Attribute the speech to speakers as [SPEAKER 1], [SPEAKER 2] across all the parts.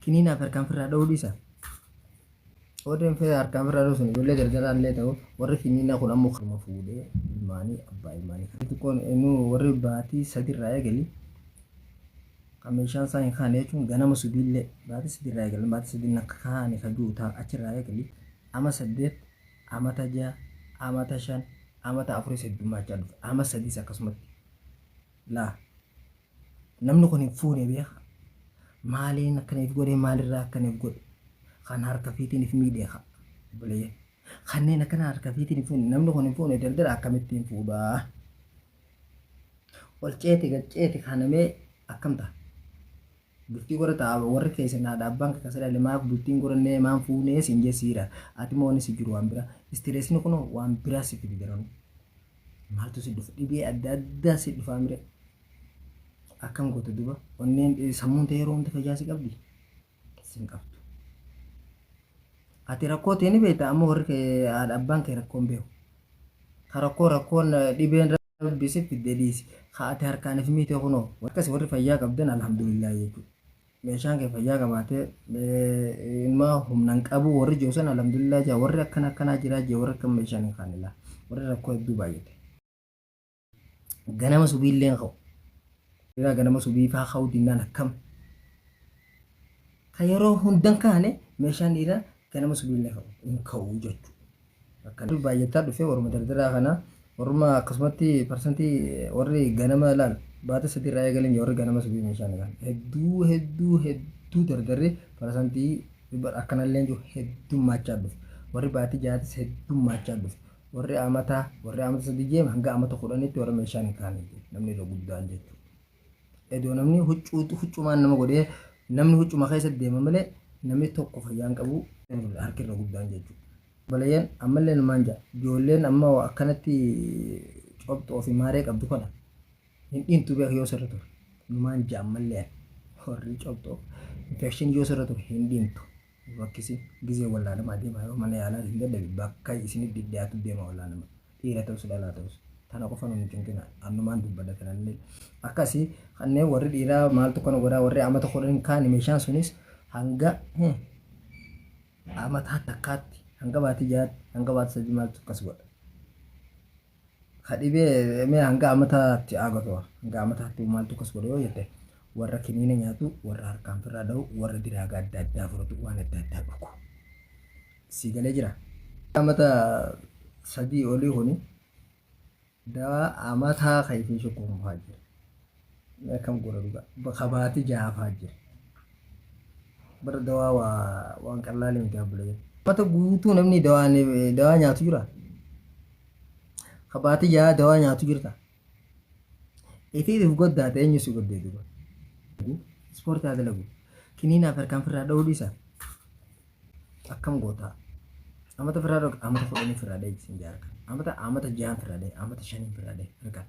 [SPEAKER 1] Kiniinaaf harkaan firraa dha'uu dhiisa. Warri fira harkaan firraa dha'uu sun ijoollee gargaraa illee ta'u warri kiniinaa kun ammoo kanuma fuudhee ilmaanii abbaa ilmaanii kan xixiqqoon eenyu warri baatii sadiirraa eegali kan meeshaan isaa hin kaane jechuun ganama subiillee baatii sadiirraa eegali baatii sadiin akka kaane kan jiru ta'a achirraa eegali ama saddeet amata ja'a amata shan amata afuris heddummaachaa dhufe ama sadiis akkasumatti laa namni kun hin fuune beeka maaliin akkana if godhe maalirraa akkana if godhe kan harka fiitiin if miidhe ka obboleeyyan kanneen akkana harka fiitiin hin fuune namni kun hin fuune daldala akkamitti hin fuudhaa ol ceeti gad ceeti kanamee akkam ta'a Bultii gora ta warri keessan haadha abbaan kee kasa dhale maaf bultiin gora nee maan fuunee siin jee siira atimo wani si jiru waan bira istireesni kuno waan biraa si fide daranu maaltu si dhufa dhibee adda addaa si dhufaa mire akkam goota duba onneen sammuun ta'ee yeroo hunda fayyaa si qabdi sin qabdu ati rakkoo ta'e ni beekta amma warri kee haadha abbaan kee rakkoon beeku Ka rakkoo rakkoon dhibeen rabbi si fidde dhiisi. Ka ati harkaan if miite kunoo. Akkasi warri fayyaa qabdan alhamdulillah jechuu. Meeshaan kee fayyaa qabaate ilma humna hin qabu warri jiru san alhamdulillah jaa warri akkana akkanaa jiraa jee warri akka meeshaan hin kaane laa. Warri rakkoo hedduu baay'ate. Ganama subiilleen ka'u. Dhiraa ganama subii faa ka'uu dinnaan akkam? Ka yeroo hundan kaane meeshaan dhiiraa ganama subiillee ka'u hin ka'u jechuudha. Akkana baay'ataa dhufee warma dardaraa kana warma akkasumatti parsantii warri ganama laal baata sadii irraa eegaleen warri ganama subii meeshaan kan hedduu hedduu hedduu dardarri parsantii akkanallee jiru heddummaachaa dhufe warri baatii jaatis heddummaachaa dhufe Warri amata warri amata sadii jeem hanga amata kudhanitti warra meeshaan hin kaane jechuudha. Namni irra guddaan jechuudha. Edoo namni huccuu huccumaan nama godhee namni huccuma keessa deema malee namni tokko fayyaan qabu harki irra guddaan jechuudha. Balayyeen ammallee numaan ja'a. Ijoolleen amma akkanatti cobxoo fi maaree qabdu kana hin dhiintu beeku yoo sirra ture. Numaan ja'a ammallee warri cobxoo infekshinii yoo sirra ture hin dhiintu. Bokkisi gizee wallaanamaa deema yeroo mana yaalaa isin dadhabe bakka isinif dhidhiyaatu deema wallaanama dhiira ta'us dhalaa ta'us tana qofa nun cinqina annumaan dubbadha tanallee akkasi kanneen warri dhiiraa maaltu kana godhaa warri amata kudhan kaani meeshaan sunis hanga amataa takkaatti hanga baatii jaatti hanga baatii sadii maaltu akkas godha. ka dhibee mee hanga amataatti aagatu hanga amataatti maaltu kas godhe yoo jette warra kiniina nyaatu warra harkaan firraa dha'u warra diraaga adda addaa fudhatu waan adda addaa dhugu sii galee jira. Amata sadii olii kuni dawaa amataa kan isin shukkuunfaa jira. akkam goona dhugaa bakka baati jaafaa jira bara dawaa waa waan qallaalee miti abbulee mata guutuu namni dawaa dawaa nyaatu jira ka baati jaa dawaa nyaatu jirta itiitiif goddaate eenyu si goddee duba ispoortii haa dalagu kiniinaaf harkaan firraa dha'uu dhiisa akkam goota amata firaa dhoge amata kudhanii firaa dhee isin jaarka amata amata jaan firaa dhee amata shanii firaa dhee harka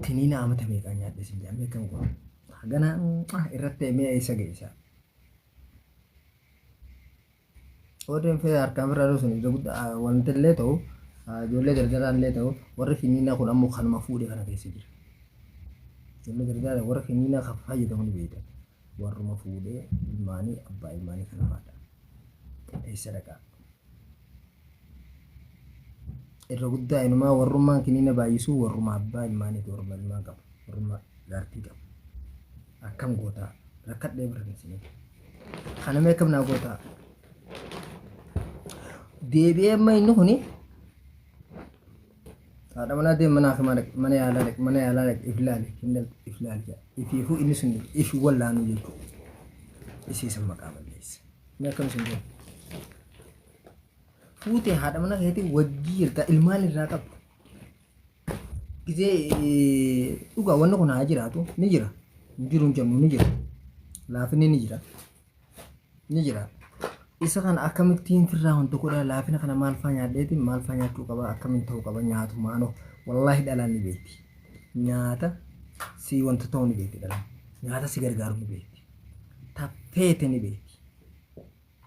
[SPEAKER 1] tiniina amata meeqaa nyaadhe isin jaan akkam goota hagana irratti mee eessa geessa warreen fee harkaan firaa dhuu sun ija guddaa wanti illee ta'u ijoollee gargaraan illee ta'u warri finiinaa kun ammoo kanuma fuudhe kana keessa jira ijoollee gargaara warra finiinaa kan fayyadamu ni beektan warruma fuudhee ilmaanii abbaa ilmaanii kan haadha eessa dhaqaa irra guddaa inumaa warrummaan kiniina baay'isuu warruma abbaa ilmaanii fi warruma ilmaan qabu warruma jaartii qabu akkam gootaa rakkadhee birra isinii kana mee akkam naa gootaa deebi'ee amma inni kuni Haadha manaa deem mana hakimaa dhaqi mana yaalaa dhaqi mana yaalaa dhaqi if laali hin laali if laali jedha. Ifiifuu inni sun if wallaanuu jechuudha. Isii san maqaa balleessa. Inni akkam isin jedhu. Fuutee haadha manaa keetii wajjii jirta ilmaan irraa qabdu. Gizee eh, dhugaa wanni kun haa jiraatu ni jira. Hin jiru hin jennu ni jira. Laafinni ni jira. ni jira isa kana akkamittiin firraa hunda godhaa laafina kana maal faa nyaadheetiin maal faa nyaachuu qaba akkamiin ta'uu qaba nyaatu maanoo wallaahi dhalaan ni beekti nyaata si wanta ta'uu ni beekti dhalaan nyaata si gargaaru ni beekti taffeete ni beekti